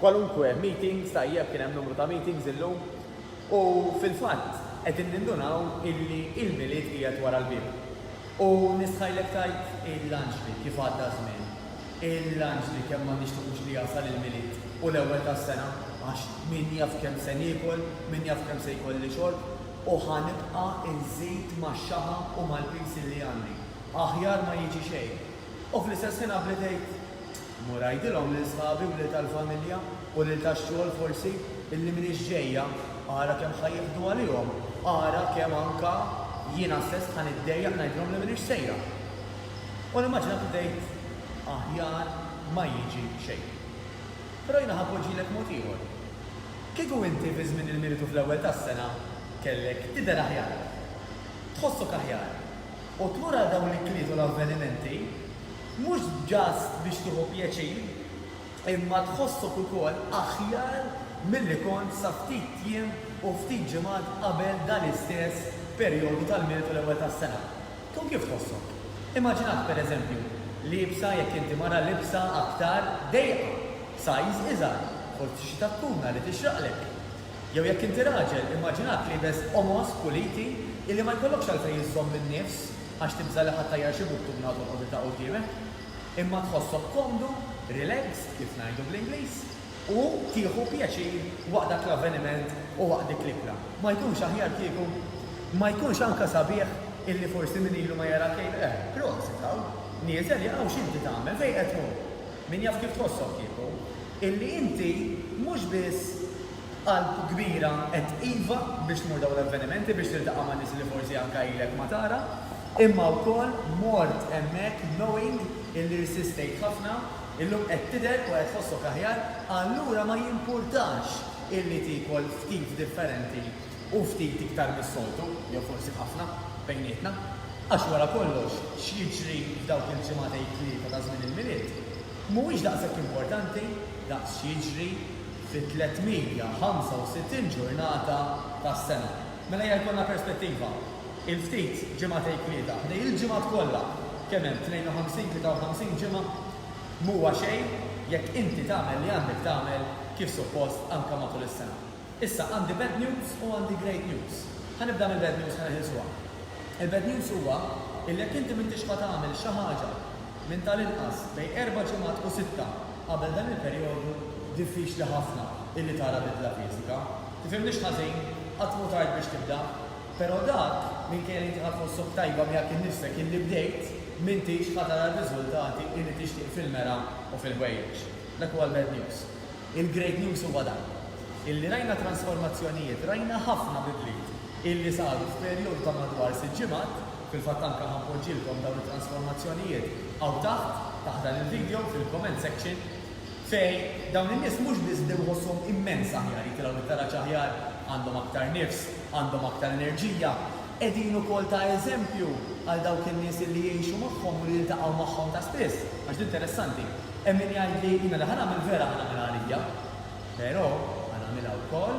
Kwalunkwe meetings, tajjeb kien hemm numru ta' meetings illum u fil-fatt qegħdin nindunaw illi il-Milied qiegħed wara l-bieb. U nistħajlek tgħid il-anġli kif għadda ż-żmien, il-anġli kemm ma nixtiqux li jasal il-Milied u l-ewwel tas-sena għax min jaf kemm se niekol, min jaf kemm se jkolli xorb u ħa nibqa' nżid max-xaħam u mal-piż illi għandi. Aħjar ma jiġi xejn. U fl-istess ħin għabbli tgħid, Immur għidilhom lil sħabi u lil tal-familja u lil tax-xogħol forsi illi m'iniex ġejja. Ara kemm ħa jieħdu għalihom. Ara kemm anke jiena stess ħa niddejjaq ngħidilhom li m'iniex sejra. U nimmaġina kif tgħid, Aħjar ma jiġi xejn. Però jiena ħa npoġġilek mod ieħor. Kieku inti fi żmien il-Militu fl-ewwel tas-sena kellek tidher aħjar, tħossok aħjar, u tmur għal dawn l-ikliet u l-avvenimenti, Mhux just biex tieħu pjaċir, imma tħossok ukoll aħjar milli kont sa ftit jiem u ftit ġimgħat qabel dan l-istess perjodu tal-Milied u l-Ewwel tas-Sena. Tkun kif tħossok? Immaġinat, pereżempju, liebsa, jekk inti mara, libsa aktar dejqa, b'sajż iżgħar, forsi xi takkuna li tixraqlek. Jew jekk inti raġel, immaġinat liebes qomos, puliti, illi ma jkollokx għalfejn iżżomm in-nifs. għax tibża' li ħadd ajjar xi buttuna u tolqot id-daqq quddiemek, imma tħossok komdu, relaxed, kif ngħidu bl-Ingliż, u tieħu pjaċir waqt dak l-avveniment u waqt dik l-ikla. Ma jkunx aħjar kieku? Ma jkunx anke sabiħ illi forsi min ilu ma jarak jgħid, Eh, prosit, hawn, nieżel, ja hawn x'inti tagħmel, fejn qed tmur? Min jaf kif tħossok kieku? Illi inti mhux biss B'qalb kbira għedt iva biex tmur dawn l-avvenimenti biex tiltaqa' ma' nies li forsi anke ilek ma tara, imma wkoll mort hemmhekk knowing illi irsistejt ħafna, illum qed tidher u qed tħossok aħjar, allura ma jimpurtax illi tiekol ftit differenti u ftit iktar mis-soltu, jew forsi ħafna, bejnietna. Għax wara kollox, x'jiġri f'dawk il-ġimagħtej tlieta ta' żmien il-Milied mhuwiex daqshekk importanti daqs x'jiġri fit-365 ġurnata tas-sena. Mela ejja jkollna perspettiva. Il-ftit ġimgħat Għid Tlieta, ħdej il-ġimgħat kollha, kemm hemm, 52, 53 ġimgħa? M'huwa xejn jekk inti tagħmel li għandek tagħmel kif suppost anke matul is-sena. Issa għandi bad news u għandi great news. Ħa nibda mill-bad news ħa neħilsuha. Il-bad news huwa illi jekk inti m'intix ħa tagħmel xi ħaġa minn tal-inqas bejn erba' ġimgħat u sitta, Qabel dan il-perjodu, diffiċli ħafna illi tara bidla fiżika. Tifhimnix ħażin, qatt mhu tard biex tibda. Però dak, minkejja li inti ħadt ħossok tajba miegħek innifsek illi bdejt, m'intix ħa tara r-riżultati illi tixtieq fil-mergħa u fil-ħwejjeġ. Dak huwa l-bad news. Il-great news huwa dan, illi rajna transformazzjonijiet, rajna ħafna bidliet. illi saru f'perjodu ta' madwar sitt ġimgħat, fil-fatt anke ħa npoġġilkom dawn it-transformazzjonijiet hawn taħt, taħt dan il-video, fil-comment section, fejn dawn in-nies mhux biss bdew iħossuhom immens aħjar, jitilgħu bit-taraġ aħjar, għandhom aktar nifs, għandhom aktar enerġija, qegħdin ukoll ta' eżempju għal dawk in-nies illi jgħixu magħhom u li jiltaqgħu magħhom ta' spiss. Għax din interessanti, hemm min jgħidli, jiena li ħa nagħmel vera ħa nagħmilha għalija. Però ħa nagħmilha wkoll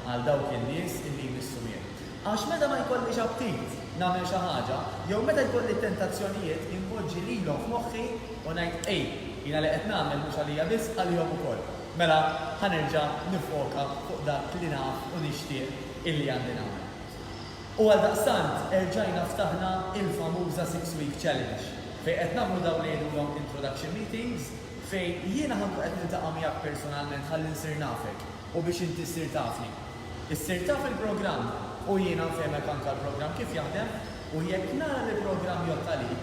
għal dawk in-nies li jmissu miegħi. Għax meta ma jkollix aptit nagħmel xi ħaġa, jew meta jkolli tentazzjonijiet, inpoġġi lilhom f'moħħi u ngħid, 'Ej, jiena li qed nagħmel mhux għalija biss, għalihom ukoll. Mela ħa nerġa' niffoka fuq dak li naf u nixtieq illi għandi nagħmel. U għaldaqstant erġajna ftaħna il-famuża Six Week Challenge, fejn qed nagħmlu dawn li jgħidulhom introduction meetings, Fejn jiena ħa nkun qed niltaqa' miegħek persunalment ħalli nsir nafek u biex inti ssir tafni. Issir taf il-programm u jiena nfehmek anke l-programm kif jaħdem u jekk nara li l-programm jgħodd għalik,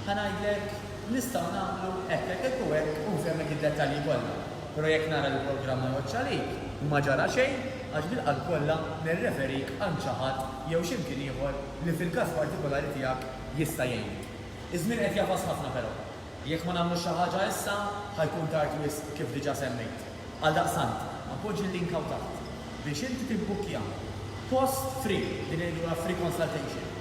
ħa ngħidlek nistgħu nagħmlu hekk, hekk, hekk u hekk u nfehmek id-dettalji kollha. Però jekk nara li l-programm ma jgħoddx għalik, ma ġara xejn għax bil-qalb kollha nirreferik għand xi ħadd jew xi mkien ieħor li fil-każ partikulari tiegħek jista' jgħinek. Iż-żmien qed jagħfas ħafna però. Jekk ma nagħmlux xi ħaġa issa, ħa jkun tard wisq, kif diġà semmejt. Għaldaqstant, appoġġi l-link hawn taħt biex inti tibbukkja post free, din ngħidulha free consultation,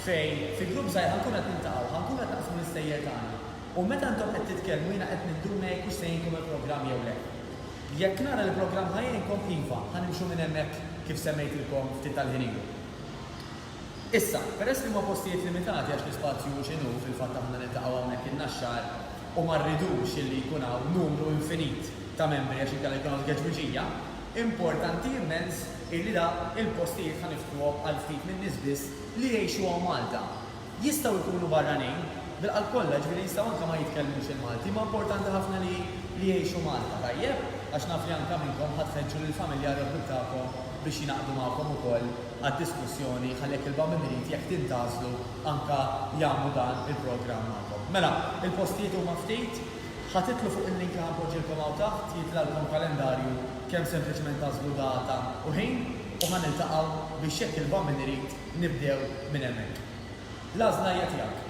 fejn fi grupp żgħir ħa nkunu qed niltaqgħu, ħa nkunu qed naqsmu l-istejjer tagħna u meta intom qed titkellmu jiena qed ninduna jekk hux se jgħinkom il-programm jew le. Jekk nara li l-programm ħa jgħinkom, iva, ħa nimxu minn hemmhekk kif semmejtilkom ftit tal-ħin ilu. Issa, peress li huma postijiet limitati għax l-ispazju hu x'inhu, fil-fatt aħna niltaqgħu hawnhekk in-Naxxar u ma rridux li jkun hawn numru infinit ta' membri għax inkella jkun hawn tgeġwiġija, importanti immens illi da il-postijiet ħa niftħuhom għal ftit min-nies biss li jgħixuhom Malta. Jistgħu jkunu barranin, bil-qalb kollha, jiġifieri jistgħu anke ma jitkellmux il-Malti, imma importanti ħafna li li jgħixu Malta, tajjeb? Għax naf li anke minnkom ħa tħeġġu lill-familja għar-raddub tagħkom biex jingħaqdu magħkom ukoll għad-diskussjoni ħalli jekk il-BAM irid, jekk tintgħażlu, anke jagħmlu dan il-programm magħkom. Mela, il-postijiet huma ftit. Ħa titlu fuq il-link li ħa npoġġilkom hawn taħt, jitlgħalkom kalendarju kemm sempliċement tagħżlu data u ħin u ħa niltaqgħu biex jekk il-BAM irid, nibdew minn hemmhekk. L-għażla hija tiegħek.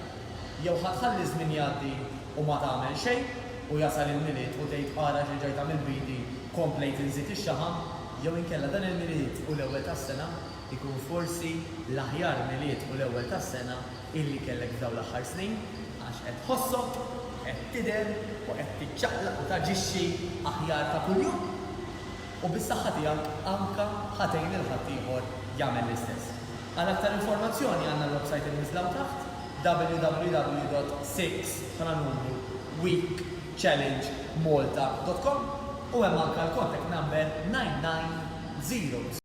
Jew ħa tħalli ż-żmien jgħaddi u ma tagħmel xejn u jasal il-Milied u tgħid ara x'reġajt għamilt b'idi, komplejt inżid ix-xaħam, Jew inkella dan il-Milied u l-Ewwel tas-Sena jkun forsi l-aħjar Milied u l-Ewwel tas-Sena illi kellek f'dawn l-aħħar snin għax qed tħossok qed tidher u qed tiċċaqlaq u taġixxi aħjar ta' kuljum u bis-saħħa tiegħek anke ħa tgħin lil ħaddieħor jagħmel l-istess. Għal aktar informazzjoni għandna l-websajt imniżżla hawn taħt, www.six, bħala numru, week. challengemalta.com u hemm anke l-contact number 9900.